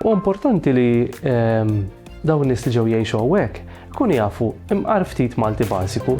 U importanti li ehm, dawn nies li ġew jgħixu hawnhekk kun jafu imqar ftit Malti bażiku.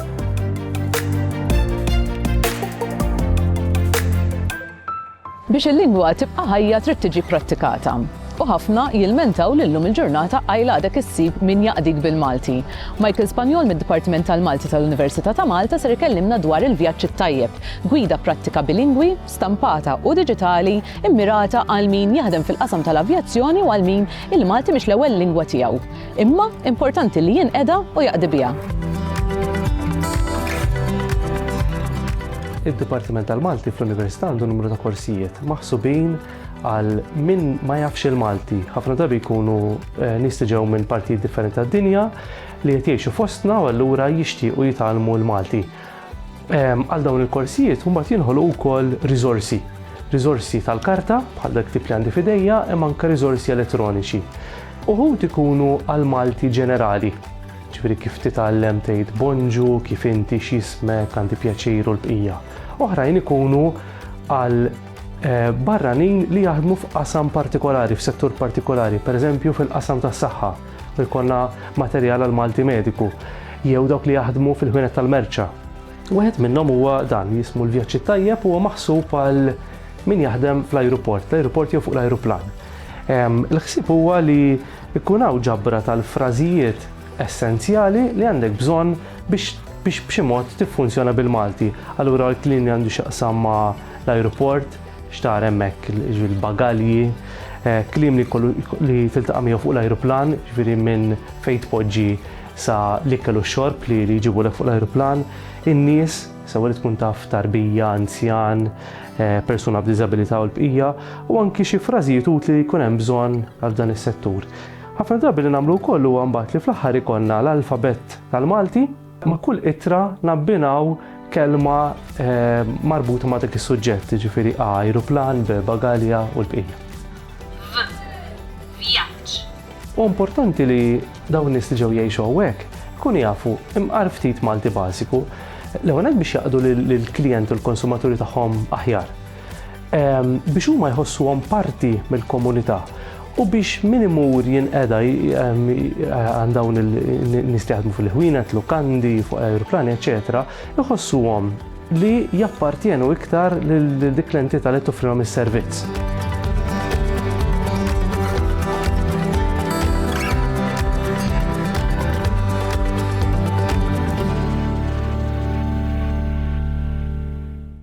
Biex il-lingwa tibqa' ħajja trid tiġi prattikata. U ħafna jilmentaw lillum il-ġurnata għajl għadek issib min jaqdik bil-Malti. Michael Spanjol mid-Dipartiment tal-Malti tal-Università ta' Malta ser ikellimna dwar il-vjaġġ it-tajjeb, gwida prattika bilingwi, stampata u diġitali mmirata għal min jaħdem fil-qasam tal-avjazzjoni u għal min il-Malti mhix l-ewwel lingwa tiegħu, imma importanti li jinqeda u jaqdi biha. Id-Dipartiment tal-Malti fl-Università għandu numru ta' korsijiet maħsubin għal min ma jafx il-Malti. Ħafna drabi jkunu eh, nistiġew minn partijiet differenti tad-dinja li qed jgħixu fostna u allura jixtiequ jitgħallmu l-Malti. Ehm, għal dawn il-korsijiet mbagħad jinħolqu wkoll riżorsi. Riżorsi tal-karta bħal dak tip li għandi fidejja imma anke riżorsi elettroniċi. Uħud ikunu għal Malti ġenerali. Ġifieri kif titgħallem tgħid bonġu, kif inti x'ismek, għandi pjaċiru l-bqija. Oħrajn ikunu għal eh, barranin li jaħdmu f'qasam partikolari, f'settur partikolari, pereżempju fil-qasam tas-saħħa. u jkollna materjal għal Malti mediku jew dawk li jaħdmu fil-ħwienet tal-merċa. Wieħed minnhom huwa dan jismu l-vjaġġ it-tajjeb huwa maħsub għal min jaħdem fl-ajruport, l-ajruport jew fuq l-ajruplan. Il-ħsieb huwa li jkun hawn ġabra tal-frażijiet essenzjali li għandek bżonn biex biex b'xi mod tiffunzjona bil-Malti. Allura l-klin li għandu x'jaqsam ma' l-ajruport, X'tara hemmhekk, jiġifieri l-bagalji, kliem li jkollu li tiltaqa' miegħu fuq l-ajruplan, jiġifieri minn fejn tpoġġi sa l-ikel u x-xorb li li jġibulek fuq l-ajruplan, in-nies, sewwa li tkun taf tarbija, anzjan, persuna b'diżabilità u l-bqija, u anki xi frażijiet utli li jkun hemm bżonn għal f'dan is-settur. Ħafna drabi li nagħmlu wkoll huwa mbagħad li fl-aħħar ikollna l-alfabett tal-Malti, Ma' kull ittra nabbinaw kelma marbuta ma' dak is-suġġett, jiġifieri a ajruplan, b bagalja u l-bqija. V vjaġġ. Huwa importanti li dawn in-nies li ġew jgħixu hawnhekk ikunu jafu imqar ftit Malti bażiku, l-ewwel nett biex jaqdu lill-klijenti u l-konsumaturi tagħhom aħjar. biex huma jħossuhom parti mill-komunità u biex min imur jinqeda għand dawn il-nies li jaħdmu fil-ħwienet, lukandi, fuq aeroplani, eċetera, iħossuhom li jappartjenu iktar lil dik l-entità li toffrilhom is-servizz.